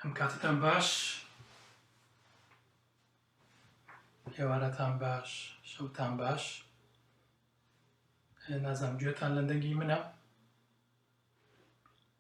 ئەم کاتتان باش هێوارەتان باش شەوتان باش نازانم گوێتان لە دەنگی منە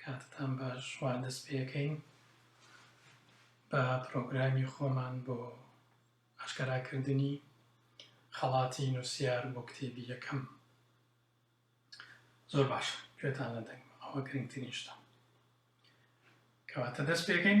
کاتتان باش وا دەست پێکەین بە پرۆگرامی خۆمان بۆ ئاشکەراکردنی خەڵاتی نووسیار بۆ کتێبی یەکەم زۆر باشە گوێتان لە دەنگم ئەوە گرنگترین شتە کەواتە دەست پێکەین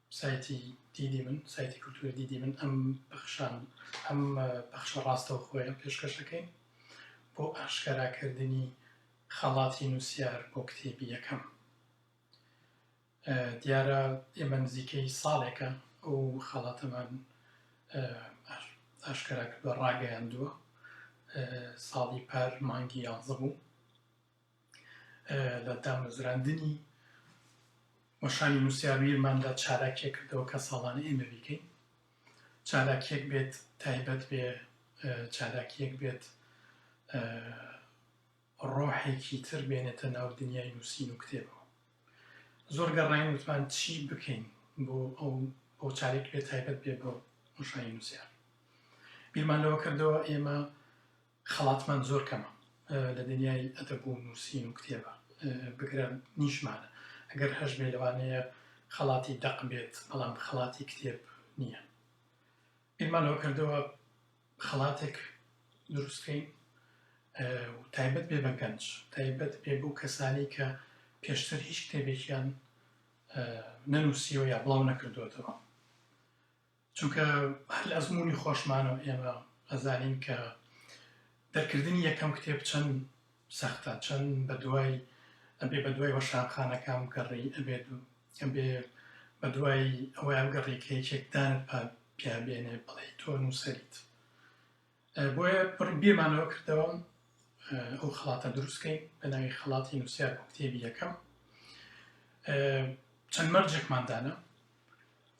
سایتی دیدی من، سایتی کلتوری دیدی من ئەم پەخشان ئەم پەخشە ڕاستەوخۆیە پێشکەش دەکەین بۆ ئاشکەراکردنی خەڵاتی نووسیار بۆ کتێبی یەکەم دیارە ئێمە نزیکەی ساڵێکە ئەو خەڵاتەمان ئاشکرا کردوە ڕاگەیاندووە ساڵی پار مانگی یانزە بوو لە دامەزراندنی وەشانی نووسیارویرماندا چالاکیە کردەوە کە ساڵانە ئێمە بیکەین چالاکیەک بێت تایبەت بێ چالاکیەک بێت ڕۆحێکی تر بێنێتە ناو دنیای نووسین و کتێبەوە زۆر گەڕین وتمان چی بکەین بۆ ئەو بۆ چارێک بێ تایبەت بێ بۆ مشای نووسیار بیرمان لەوە کردەوە ئێمە خەڵاتمان زۆر کەمە لە دنیای ئەدەب و نووسین و کتێبە بگرە نیشمانە ئەگەر هەشبێ لەوانەیە خەڵاتی دەق بێت بەڵام خەڵاتی کتێب نییە ئێمان لەوە کردەوە خەڵاتێک دروستکەین تایبەت بێ بە گەنج تایبەت بێ بۆ کەسانی کە پێشتر هیچ کتێبێکیان نەنووسیەوە یا بڵاو نەکردوێتەوە چونکە هەر لە ئەزموونی خۆشمانەوە ئێمە ئەزانین کە دەرکردنی یەکەم کتێب چەند سەختە چەند بە دوای ئەبێ بە دوای وەشانخانەکان بگەڕی ئەبێت و ئەبێ بە دوای ئەوەیان گەڕێکەیەکێکدانت پێ بێنێ بڵێ تۆ نووسەریت بۆیە بڕی بیرمانەوە کردەوە ئەو خڵاتە دروستکەین بە ناوی خڵاتی نووسیار بۆ کتێبی یەکەم چەند مەرجێکمان دانا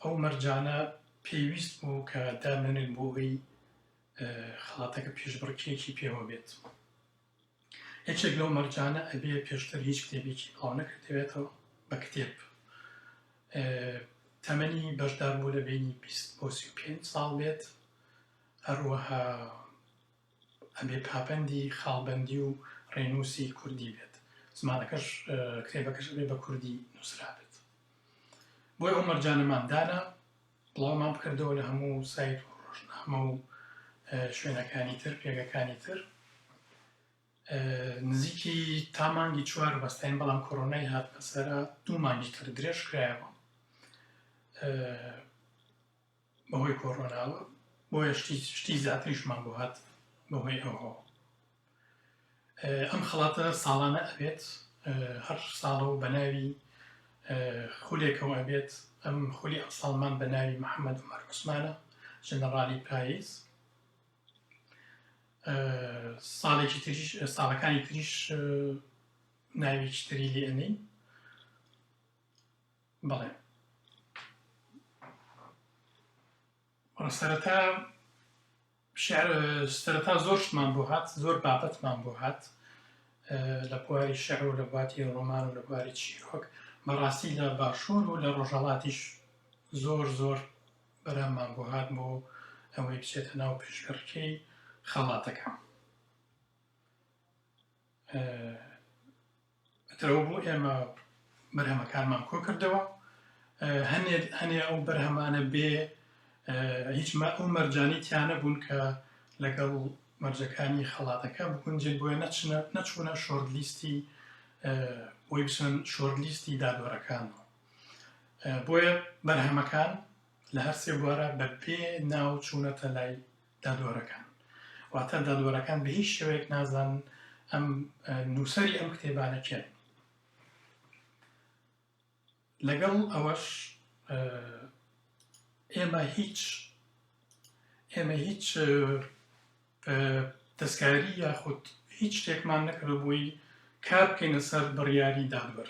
ئەو مەرجانە پێویست بوو کە دامێنێت بۆ ئەوی خڵاتەکە پێشبڕکێکی پێوە بێت یەکێک لەو مەرجانە ئەبێ پێشتر هیچ کتێبێکی بڵاو نەکردبێتەوە بە کتێب تەمەنی بەشدار بوو لە بینی بیست بۆ سی و پێنج ساڵ بێت هەروەها ئەبێ پاپەندی خاڵبەندی و ڕێنووسی کوردی بێت زمانەکەش کتێبەکەش بێ بە کوردی نووسرابێت بۆی ئەو مەرجانەمان دانا بڵاومان بکردەوە لە هەموو سایت و ڕۆژنامە و شوێنەکانی تر پێگەکانی تر نزیکی تا مانگی چوار بەستین بەڵام کۆرۆنای هات بەسەرا دوو مانگی تر درێژ کرایەوە بەهۆی کۆرۆناوە بۆیە شتی شتی زیاتریشمان بۆ هات بەهۆی ئەوەوە ئەم خەڵاتە ساڵانە ئەبێت هەر ساڵەو بە ناوی خولێکەوە ئەبێت ئەم خولی ئەمساڵمان بە ناوی محەممەد عمر عوسمانە ژەنەڕالی پایز ساڵێکی تریش ساڵەکانی تریش ناوێکی تری لێ ئەنین بەڵێ وەڵا سەرەتا شعر سەرەتا زۆر شتمان بۆ هات زۆر بابەتمان بۆ هات لە بواری شعر و لە باتی ڕۆمان و لە بواری چیرۆک بەڕاستی لە باشوور و لە ڕۆژهڵاتیش زۆر زۆر بەرامان بۆ هات بۆ ئەوەی بچێتە ناو پێشبڕکەی خەڵاتەکە ترەوە بۆ ئێمە بەرهەمەکانمان کۆکردەوە هەنێ هەنێ ئەو بەرهەمانە بێ هیچ ئەو مەرجانی تیانە بوون کە لەگەڵ مەرجەکانی خەڵاتەکە بگونجێت بۆیە نەچنە نەچوونە شۆرد لیستی بۆی بچن شۆرد لیستی دادوەرەکانەوە بۆیە بەرهەمەکان لە هەرسێ بوارە بە پێ ناو چوونەتە لای دادوەرەکان واتە دادوەرەکان بە هیچ شێوەیەک نازانن ئەم نووسری ئەم کتێبانە کێن لەگەڵ ئەوەش ئێمە هیچ ئێمە هیچ دەستکاری یاخود هیچ شتێکمان نەکردبووی کار بکەینە سەر بڕیاری دادوەر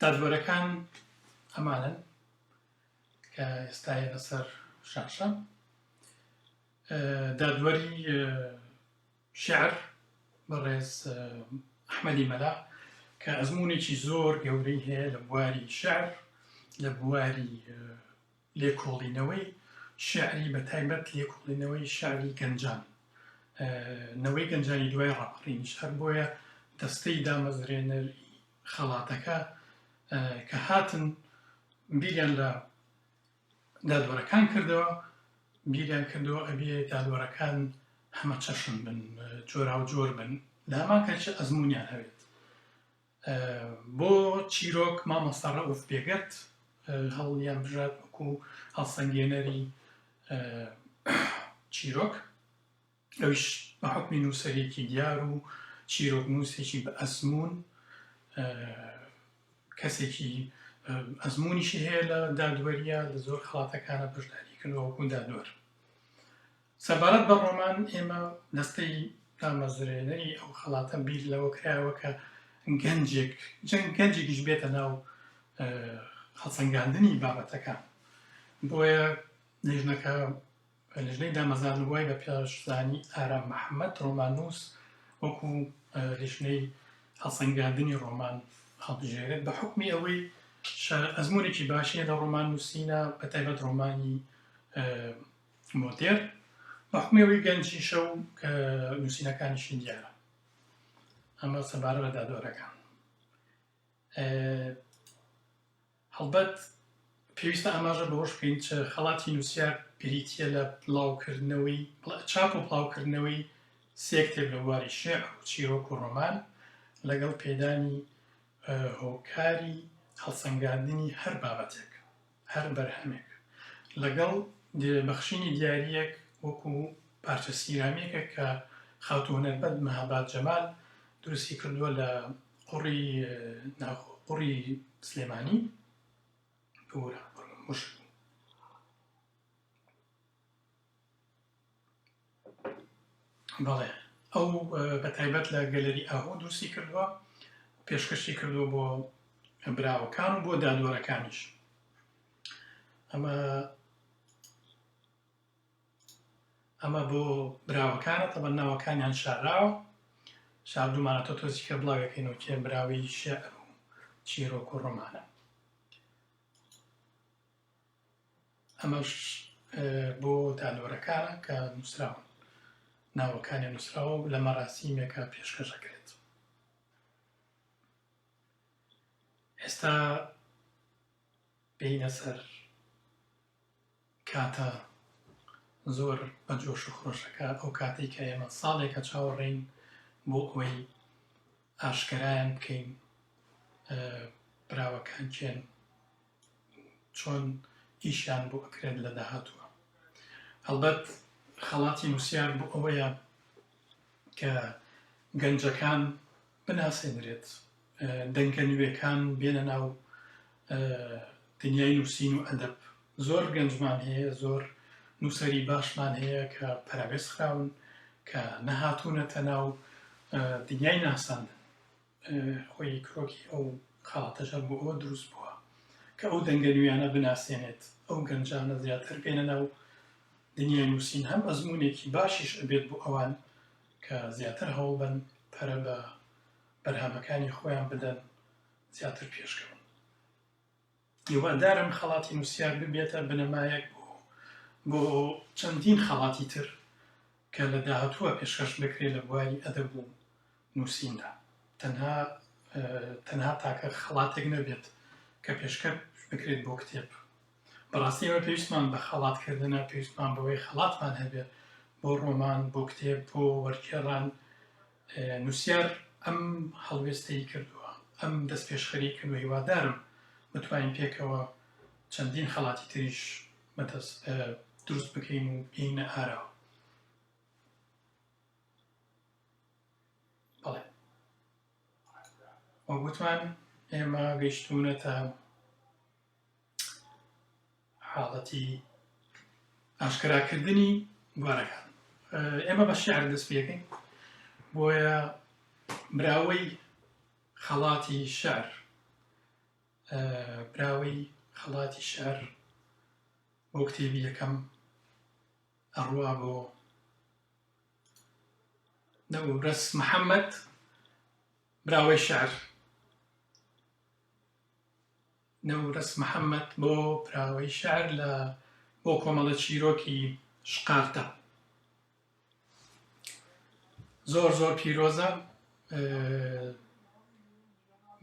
دادوەرەکان ئەمانەن کە ئێستا هەیە لەسەر شاشە دادوەری شعر بەڕێز ئەحمەدی مەلا کە ئەزمونێکی زۆر گەورەی هەیە لە بواری شعر لە بواری لێکۆڵینەوەی شێعری بە تایبەت لێکۆڵینەوەی شێعری گەنجان نەوەی گەنجانی دوای ڕاپەڕینیش هەر بۆیە دەستەی دامەزرێنەر خەڵاتەکە کە هاتن بیریان لە دادوەرەکان کردەوە بیریان کردەوە ئەبێ دادوەرەکان هەمە چەشن بن جۆرا و جۆر بن لە هەمان کەچە ئەزمونیان هەوێت بۆ چیرۆک مامۆستا ڕەئوف بێگەرد هەڵیانبژارد وەکو هەڵسەنگێنەری چیرۆک ئەویش بە حکمی نووسەرێکی دیار و چیرۆک نووسێکی بە ئەزمون کەسێکی ئەزمونیشی هەیە لە دادوەریە لە زۆر خڵاتەکانە بەشداری کردوەکو دادوەر سەبارەت بە ڕۆمان، ئێمە دەستەی دامەزرێنەری ئەو خەڵاتە بیر لەوە کراوە کە گەنجێک جەنگ گەنجێکیش بێتە ناو هەڵسەنگاندنی بابەتەکان بۆیە لێژنەکە لەژنەی دامەزان وای بە پێشزانی ئارام محەممەد ڕۆمانوس وەکو لێژنەی هەڵسەنگاندنی ڕۆمان هەڵبژێرێت بە حکمی ئەوەی ئەزمونێکی باشیە لە ڕۆمان نووسینە بە تایبەت ڕۆمانی مۆدێر، بە حوکمی ئەوەی گەنجیشە و نووسینەکانیشی دیارە ئەمە سەبارە بە دادوەرەکان هەڵبەت پێویستە ئاماژە بەهۆش بکەین چ خەڵاتی نووسیا بریتە لە بڵاوکردنەوەی چاپ و بڵاوکردنەوەی سێکتێک لە بواری شێع و چیرۆک و ڕۆمان لەگەڵ پێدانی هۆکاری هەڵسەنگاندنی هەر بابەتێک هەر بەرهەمێک لەگەڵ بەخشینی دیارییەک وەکوو پارچە سیرامیکێک کە خاتوو هونەرمەند مەهاباد جەمال دروستی کردووە لە قوڕی ناوخۆ قوڕی سلێمانی ببورە قوڕی موشک بوو. بەڵێ ئەو بە تایبەت لە گەلەری ئاهۆ دروستی کردووە پێشکەشی کردووە بۆ براوەکان و بۆ دادوەرەکانیش ئەمە ئەمە بۆ براوەکانە تەبە ناوەکانیان شاراوە شاردومانەتە تۆزیکە بڵاوەکەینەوە کێ براوی شعر و چیرۆک و ڕۆمانە ئەمەش بۆ تالۆرەکانە کە نووسراون ناوەکانیان نووسراوە و لە مەراسیمێکە پێشکەش دەکرێت ئێستا بینە سەر کاتە زۆر بە جۆش و خۆشەکە ئەو کاتێک کە ئێمە ساڵێکە چاوەڕێین بۆ ئەوەی ئاشکەرایان بکەین براوەکان چێن چۆن ئیشیان بۆ ئەکرێت لە داهاتووە هەڵبەت خەڵاتی نووسیار بۆ ئەوەیە کە گەنجەکان بناسێنرێت دەنگە نوێکان بێنە ناو دنیای نووسین و ئەدەب زۆر گەنجمان هەیە زۆر نووسری باشمان هەیە کە پەراوێز خراون کە نەهاتوونەتە ناو دنیای ناساندن خۆی کرۆکی ئەو خاڵتەشە بۆ ئەوە دروست بووە کە ئەو دەنگە نوێیانە بناسێنێت ئەو گەنجانە زیاتر بێنە ناو دنیای نووسین هەم ئەزمونێکی باشیش ئەبێت بۆ ئەوان کە زیاتر هەوڵ بن پەرە بە بەرهەمەکانی خۆیان بدەن زیاتر پێشکەون هیوادارم خەڵاتی نووسیار ببێتە بنەمایەک بۆ چەندین خەڵاتی تر کە لە داهاتووە پێشکەش دەکرێت لە بواری ئەدەب و نووسیندا تەنها تەنها تاکە خەڵاتێک نەبێت کە پێشکە بکرێت بۆ کتێب بەڕاستی ئەوە پێویستمان بە خەڵاتکردنە پێویستمان بەوەی خەڵاتمان هەبێت بۆ ڕۆمان بۆ کتێب بۆ وەرکێڕان نوسیار ئەم هەڵوێستەی کردووە، ئەم دەستپێشخەریی کردووە، هیوادارم بتوانین پێکەوە چەندین خەڵاتی تریش دروست بکەین و بگەینە ئاراوە. وەک وتمان ئێمە گەیشتوونەتە. حاڵەتی ئاشکراکردنی گوارەکان ئێمە بە شعر دەست پێکەین بۆیە براوەی خەڵاتی شعر براوەی خەڵاتی شعر بۆ کتێبی یەکەم ئەڕوا بۆ نەوەڕەس محەممەد براوەی شعر نەورەس محەمەد بۆ پراوەی شعر لە بۆ کۆمەڵە چیرۆکی شقاقدا زۆر زۆر پیرۆزە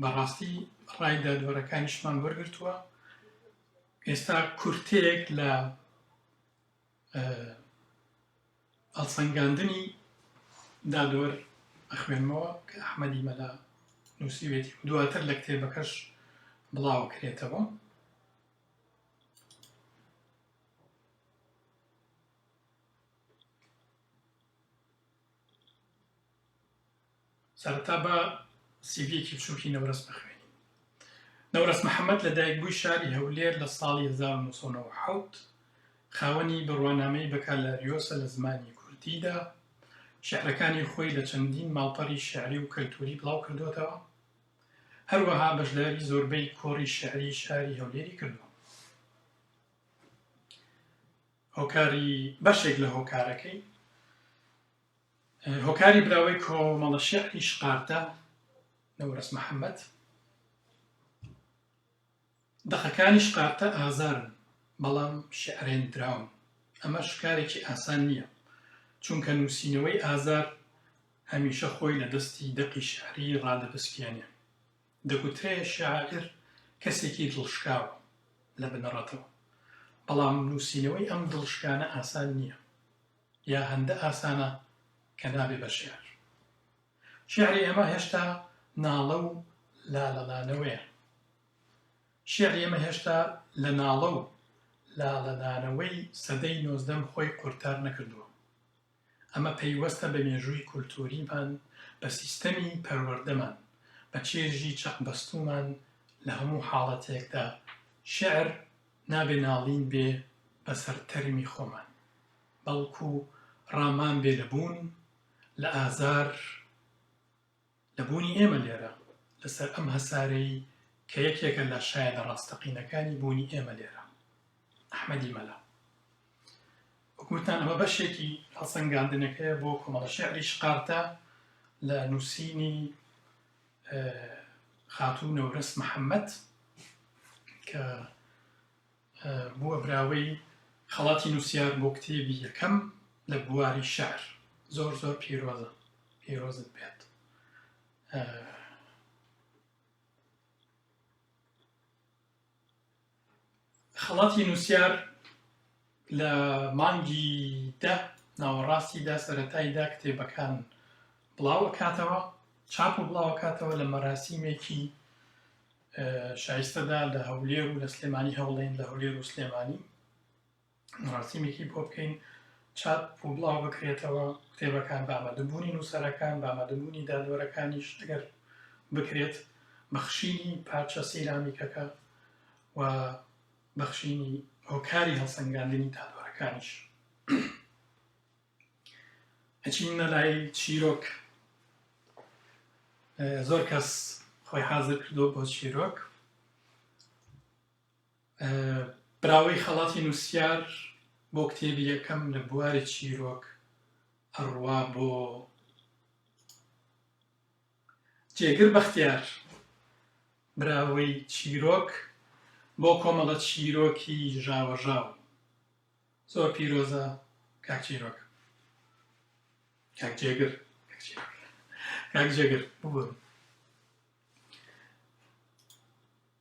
بەڕاستی ڕای دادوەرەکانیشمان وەرگرتووە ئێستا کورتەیەک لە هەڵسەنگاندنی دادۆر ئەخوێنمەوە کە ئەحمەدی مەلا نووسیوێتی و دواتر لە کتێبەکەش بڵاوکرێتەوە سەرەتا با سیڤیەکی بچووکی نەورەس بخوێنین. نەورەس محەمەد لە دایکبووی شاری هەولێر لە ساڵی 1997 خاوەنی بڕوانامەی بەکالاریۆسە لە زمانی کوردیدا، شیعرەکانی خۆی لە چەندین ماڵپەڕی شیعری و کەلتووری بڵاوکردۆتەوە، هەروەها بەشداری زۆربەی کۆڕی شیعری شاری هەولێری کردووە. هۆکاری بەشێک لە هۆکارەکەی هۆکاری براوەی کۆمەڵە شێعری شقارتە، نەورەس محەمەد. دەقەکانی شقارتە ئازارن، بەڵام شێعرێندراون. ئەمەش کارێکی ئاسان نییە، چونکە نووسینەوەی ئازار هەمیشە خۆی لە دەستی دەقی شێعری ڕادەپسکێنێ. دەگوترێ شاعیر کەسێکی دڵشکاوە لە بنەڕەتەوە، بەڵام نووسینەوەی ئەم دڵشکانە ئاسان نییە. یا هەندە ئاسانە کە نابێ بە شێعر. شێعری ئێمە هێشتا ناڵە و لالەلانەوەیە. شێعری ئێمە هێشتا لە ناڵە و لالەدانەوەی سەدەی نۆزدەم خۆی قورتار نەکردووە. ئەمە پەیوەستە بە مێژووی کولتووریمان، بە سیستەمی پەروەردەمان، بە چێژی چەقبەستوومان، لە هەموو حاڵەتێکدا شێعر نابێ ناڵین بێ بە سەر تەرمی خۆمان، بەڵکو ڕامان بێ لە بوون، لە ئازار لە بوونی ئێمە لێرە، لەسەر ئەم هەسارەی کە یەکێکە لە شایەدە ڕاستەقینەکانی بوونی ئێمە لێرە. ئەحمەدی مەلا. وەک وتان ئەمە بەشێکی هەڵسەنگاندنەکەیە بۆ کۆمەڵە شێعری شقارتە لە نووسینی خاتوو نەورەس محەمەد کە بووە براوەی خەڵاتی نووسیار بۆ کتێبی یەکەم لە بواری شار زۆر زۆر پیرۆزە پیرۆزت بێت خەڵاتی نووسیار لە مانگی دە ناوەڕاستی دا سەرەتای دا کتێبەکان بڵاوەکاتەوە چاپ و بڵاوەکاتەوە لە مەراسیمێکی شایستەدا لە هەولێر و لە سلێمانی هەوڵێن لە هەولێر و سلێمانی مەراسیمێکی بۆ بکەین چاپ و بڵاو بکرێتەوە کتێبەکان بە ئامادەبوونی نووسەرەکان بە ئامادەبوونی دادوەرەکانیش ئەگەر بکرێت بەخشینی پارچە سیرامیکەکە و بەخشینی هۆکاری هەڵسەنگاندنی دادوەرەکانیش ئەچین نەلای چیرۆک زۆر کەس خۆی حاضر کردو بۆ چیرۆک براوەی خەڵاتی نوسیار بۆ کتێبی یەکەم لە بواری چیرۆک ئەڕوا بۆ جێگر بەختیار براوەی چیرۆک بۆ کۆمەڵە چیرۆکی ژاوەژاو زۆر پیرۆزە کاک چیرۆک کاک جێگر کاک جێگر ببورن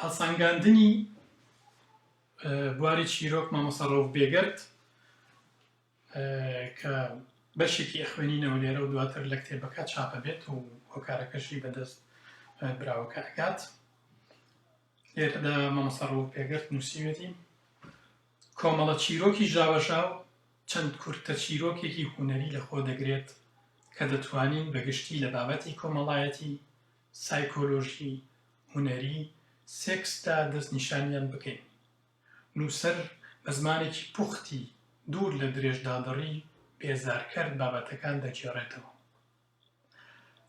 هەڵسەنگاندنی بواری چیرۆک مامۆستا ڕەوف بێگەرد کە بەشێکی ئەخوێنینەوە لێرە و دواتر لە کتێبەکە چاپە بێت و هۆکارەکەشی بەدەست براوەکە ئەکات لێرەدا مامۆستا ڕەوف بێگەرد نووسیوێتی کۆمەڵە چیرۆکی ژاوەژاو چەند کورتە چیرۆکێکی هوەری لەخۆ دەگرێت کە دەتوانین بەگشتی لە بابەتی کۆمەڵایەتی سایکۆلۆژی هونەری سێکسدا دەستنیشانیان بکەین. نووسەر بە زمانێکی پوختی دوور لە درێژدادڕی بێزارکەر بابەتەکان دەگێڕێتەوە.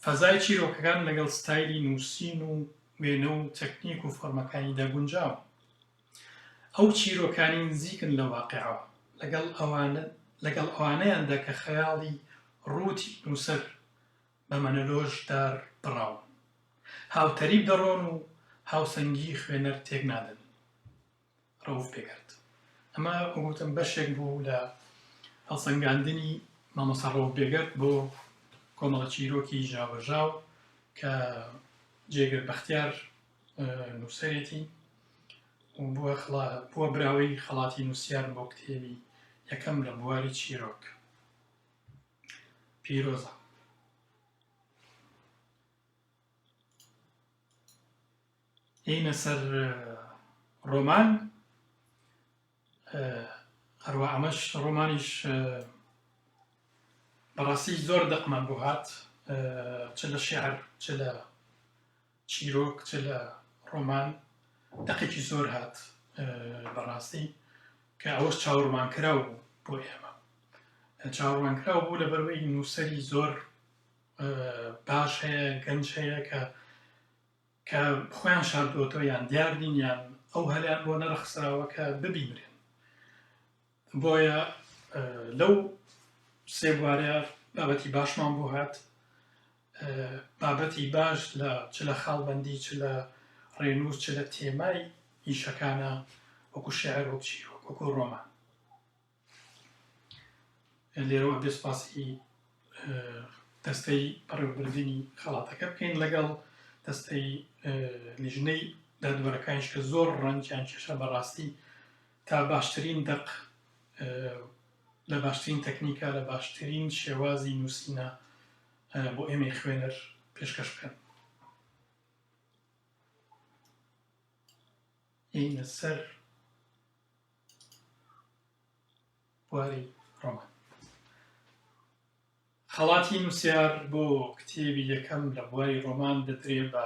فەزای چیرۆکەکان لەگەڵ ستایلی نووسین و وێنە و تەکنیک و فۆرمەکانیدا گونجاون. ئەو چیرۆکانی نزیکن لە واقعەوە لەگەڵ ئەوانە لەگەڵ ئەوانەیاندا کە خەیاڵی ڕووتی نووسەر بە مەنەلۆش دار بڕاون. هاوتەریب دەڕۆن و هاوسەنگیی خوێنەر تێک نادەن. ڕەوف بێگەرد. ئەمە وەکو گوتم بەشێک بوو لە هەڵسەنگاندنی مامۆستا ڕەوف بێگەرد بۆ کۆمەڵە چیرۆکی ژاوەژاو کە جێگر بەختیار نووسەرێتی و بووە خڵا بووە براوەی خەڵاتی نووسیار بۆ کتێبی یەکەم لە بواری چیرۆک. پیرۆزە. هینە سەر ڕۆمان هەروە ئەمەش ڕۆمانیش بەڕاستی زۆر دەقمان بۆ هات چ لە شعر چ لە چیرۆک چ لە ڕۆمان دەقێکی زۆر هات بە ڕاستی کە ئەوەش چاوەڕوانکراو بوو بۆ ئێمە چاوەڕوانکراو بوو لە بەرەوەی نووسەری زۆر باش هەیە گەنج هەیە کە کە خۆیان شاردوەتەوە یان دیاردین یان ئەو هەلیان بۆ نەرخسراوە کە ببینرێن بۆیە لەو سێ بوارەیا بابەتی باشمان بۆ هات بابەتی باش لە چ لە خاڵبندی چ لە ڕێنووس چ لە تێمای ئیشەکانە وەکو شعر وەک چیرۆک وەکو ڕۆمان لێرەوە بێ سپاسی دەستەی بەڕێوەبردنی خەڵاتەکە بکەین لەگەڵ دەستەی لیژنەی دادوەرەکانیش کە زۆر ڕەنجیان کێشە بەڕاستی تا باشترین دەق لە باشترین تەکنیکە لە باشترین شێوازی نووسینە بۆ ئێمەی خوێنەر پێشکەش بکەن ئینە سەر بواری ڕۆمان خەڵاتی نووسیار بۆ کتێبی یەکەم لە بواری ڕۆمان دەدرێ بە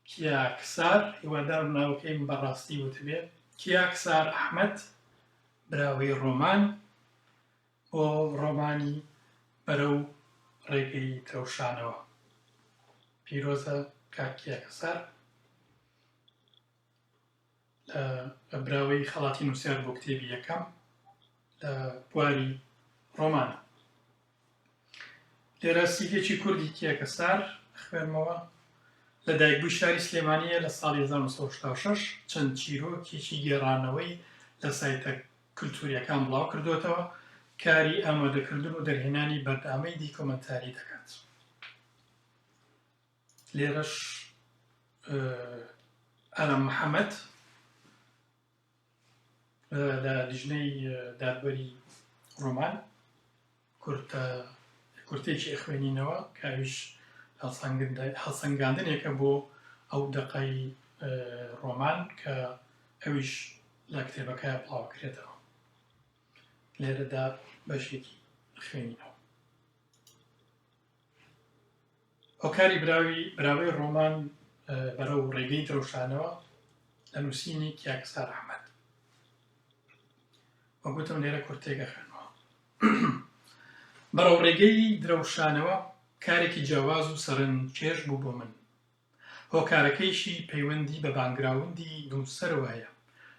کیاکسار، هیوادارم ناوەکەیم بە ڕاستی وتبێ، کیاکسار ئەحمەد، براوەی ڕۆمان، بۆ ڕۆمانی بەرەو ڕێگەی دڕەوشانەوە. پیرۆزە کاک کیاکەسار. لە براوەی خەڵاتی نووسیار بۆ کتێبی یەکەم لە بواری ڕۆمانە لێرە سیدێکی کوردی کێکە سار خوێنمەوە لە دایکبووی شاری سلێمانیە لە ساڵی 1966 چەند چیرۆکێکی گێڕانەوەی لە سایتە کللتوریەکان بڵاو کردوێتەوە کاری ئامادەکردن و دەرهێنانی بەردامەی دیکۆمنتاری دەکات. لێرەش ئارام محەمەد لە لیژنەی دادوەری ڕۆمان کورتە کورتێکی ئەخوێنینەوە کاویش هەڵسەنگاندنێکە بۆ ئەو دەقای ڕۆمان کە ئەویش لە کتێبەکە بڵاوکرێتەوە لێرەدا بەشێکی خوێنینەوە هۆکاری براوی براوەی ڕۆمان بەرە و ڕێگەی درەوشانەوە لە نووسینی کیاکستا ڕحمەت وەگوتم لێرە کورتێگە خوێنەوە بەڕەو ڕێگەی درەوشانەوە کارێکی جیاواز و سەرنج چێش بوو بۆ من هۆکارەکەیشی پەیوەندی بە باکگراوندی نووسەرەوە هەیە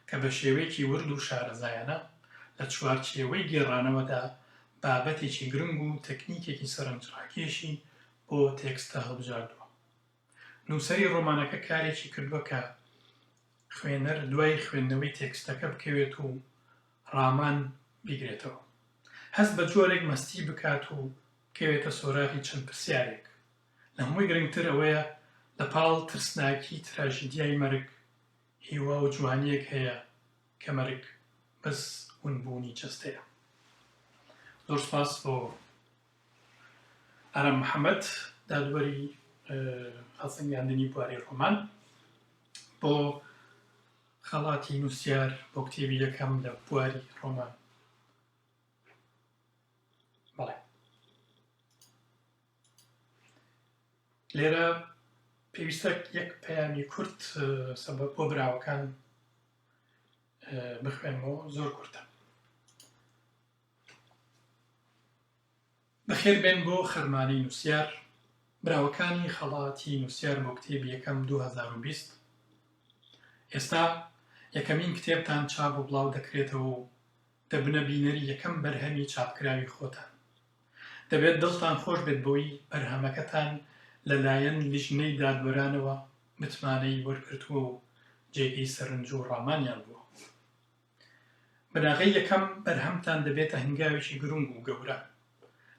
کە بە شێوەیەکی ورد و شارەزایانە لە چوارچێوەی گێڕانەوەدا بابەتێکی گرنگ و تەکنیکێکی سەرنجڕاکێشی بۆ تێکستە هەڵبژاردووە. نووسەری ڕۆمانەکە کارێکی کردووە کە خوێنەر دوای خوێندنەوەی تێکستەکە بکەوێت و ڕامان بیگرێتەوە. هەست بە جۆرێک مەستی بکات و بکەوێتە سۆراغی چەند پرسیارێک لە هەمووی گرنگتر ئەوەیە لە پاڵ ترسناکی تراژیدیای مەرگ هیوا و جوانیەک هەیە کە مەرگ بەس ون بوونی جەستەیە زۆر سوپاس بۆ ئارام محەمەد دادوەری هەڵسەنگاندنی بواری ڕۆمان بۆ خەڵاتی نووسیار بۆ کتێبی یەکەم لە بواری ڕۆمان لێرە پێویستە یەک پەیامی کورت سەبەت بۆ براوەکان بخوێنمەوە زۆر کورتە بەخێر بێن بۆ خەرمانەی نووسیار براوەکانی خەڵاتی نووسیار بۆ کتێب یەکەم 2020 ئێستا یەکەمین کتێبتان چاپ و بڵاو دەکرێتەوە و دەبنە بینەری یەکەم بەرهەمی چاپکراوی خۆتان دەبێت دڵتان خۆش بێت بەوەی بەرهەمەکەتان لەلایەن لیژنەی دادوەرانەوە متمانەی وەرگرتووە و جێگەی سەرنج و ڕامانیان بووە. بناغەی یەکەم، بەرهەمتان دەبێتە هەنگاوێکی گرنگ و گەورە،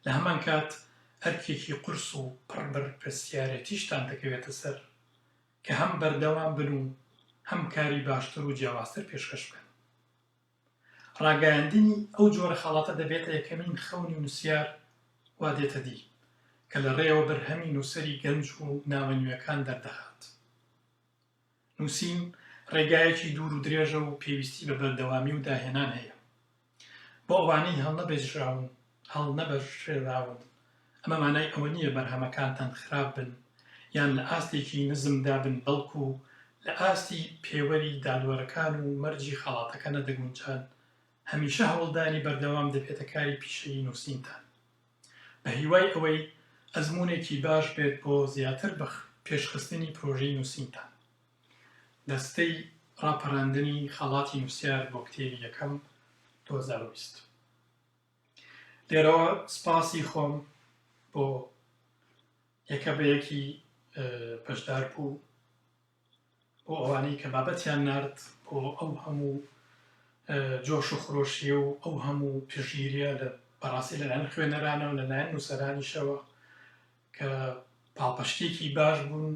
لە هەمانکات ئەرکێکی قورس و پڕ بەرپرسیارێتیشتان دەکەوێتە سەر کە هەم بەردەوام بن و هەم کاری باشتر و جیاوازتر پێشکەش بکەن. ڕاگەیاندنی ئەو جۆرە خەڵاتە دەبێتە یەکەمین خەونی نووسیار وا دێتە دی کە لە ڕێیەوە بەرهەمی نووسەری گەنج و ناوە نوێکان دەردەخات. نووسین ڕێگایەکی دوور و درێژە و پێویستی بە بەردەوامی و داهێنان هەیە. بۆ ئەوانەی هەڵنەبێژراون هەڵنەبژێراون، ئەمە مانای ئەوە نییە بەرهەمەکانتان خراپ بن یان لە ئاستێکی نزمدا بن، بەڵکو لە ئاستی پێوەری دادوەرەکان و مەرجی خەڵاتەکە نەدەگونجان، هەمیشە هەوڵدانی بەردەوام دەبێتە کاری پیشەیی نووسینتان. بەهیوای ئەوەی ئەزموونێکی باش بێت بۆ زیاتر بە پێشخستنی پرۆژەی نووسینتان. دەستەی ڕاپەراندنی خەڵاتی نووسیار بۆ کتێبی یەکەم، دوو هەزار و بیست. لێرەوە سپاسی خۆم بۆ یەکە بە یەکی بەشدار بوو بۆ ئەوانەی کە بابەتیان نرد بۆ ئەو هەموو جۆش و خرۆشی و ئەو هەموو پژگیریە لە بەڕاستی لەلایەن خوێنەرانە و لەلایەن نووسەرانیشەوە کە پاڵپشتێکی باش بوون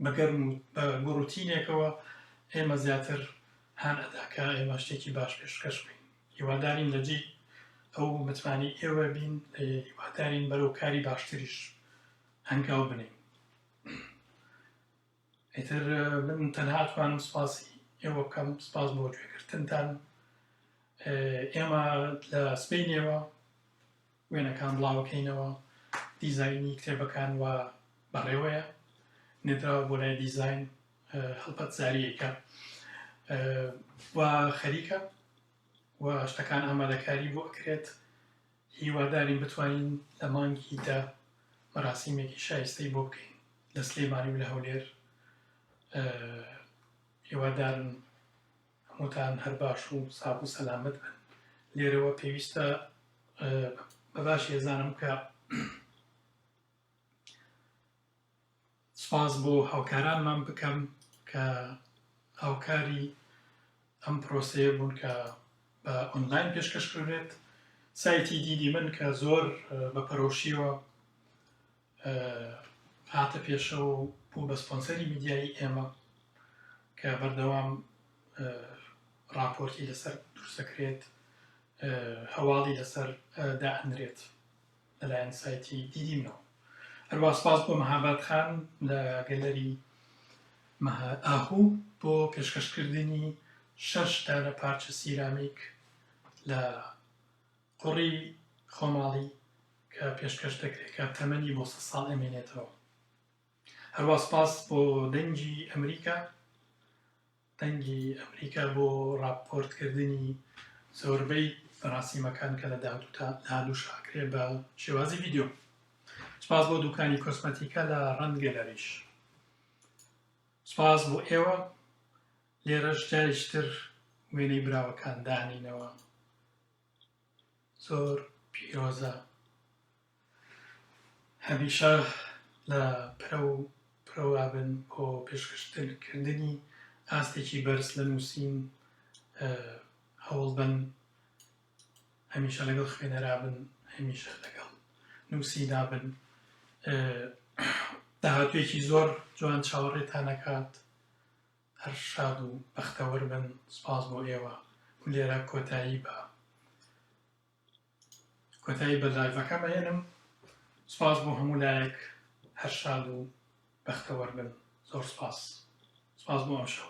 بە گەرم و بە گوڕوتینێکەوە ئێمە زیاتر هان ئەدا کە ئێمە شتێکی باش پێشکەش بین هیوادارین لە جێی ئەو متمانەی ئێوە بین هیوادارین بەرەو کاری باشتریش هەنگاو بنین ئیتر من تەنها توانم سپاسی ئێوە بکەم سپاس بۆ گوێگرتنتان ئێمە لە سپینەوە وێنەکان بڵاوەکەینەوە، دیزاینی کتێبەکان وا بەڕێوەیە، نێردراوە بۆ لای دیزاین هەڵپەت زاریەکە و خەریکە و شتەکان ئامادەکاری بۆ ئەکرێت هیوادارین بتوانین لە مانگی دە مەراسیمێکی شایستەی بۆ بکەین لە سلێمانی و لە هەولێر هیوادارن هەمووتان هەر باش و ساغ و سەلامەت بن لێرەوە پێویستە بە باش هێزانم کە سپاس بۆ هاوکارانمان بکەم کە هاوکاری ئەم پرۆسەیە بوون کە بە ئۆنلاین پێشکەشکرێت سایتی دیدی من کە زۆر بە پەرۆشیەوە هاتە پێشەوە و بوو بە سپۆنسەری میدیایی ئێمە کە بەردەوام راپۆرتی لەسەر دروستەکرێت هەواڵی لەسەر دائەنرێت لەلایەن سایتی دیدیمەوە هەروە سپاس بۆ مەهابات خان لە گەلەری ئاهوو بۆ پێشکەشکردنی شەش دانە پارچە سیرامیک لە قوڕی خۆماڵی کە پێشکەش دەکرێت کە تەمەنی بۆ سەد ساڵ ئەمێنێتەوە هەروە سپاس بۆ دەنگی ئەمریکا دەنگی ئەمریکا بۆ ڕاپۆرتکردنی زۆربەی فەراسیمەکان کە لە داهاتوتا دادوش ئاکرێ بە شێوازی ویددیو سپاس بۆ دوکانی کۆسمەتیکە لە ڕەند گەلەریش سپاس بۆ ئێوە لێرەش جاریشتر وێنەی براوەکان دانینەوە زۆر پیرۆزە هەمیشە لە پرە و پرەوە بن بۆ پێشکەشتن کردنی ئاستێکی بەرز لە نووسین هەوڵ بن هەمیشە لەگەڵ خوێنەرا بن هەمیشە لەگەڵ نووسی دابن داهاتوێکی زۆر جوان چاوەڕێتان نەکات هەر شاد و بەختەوەر بن سوپاس بۆ ئێوە و لێرە کۆتایی بە کۆتایی بە لایڤەکەم ئەهێنم سوپاس بۆ هەموو لایەک هەر شاد و بەختەوەر بن زۆر سوپاس سوپاس بۆ ئەم شەو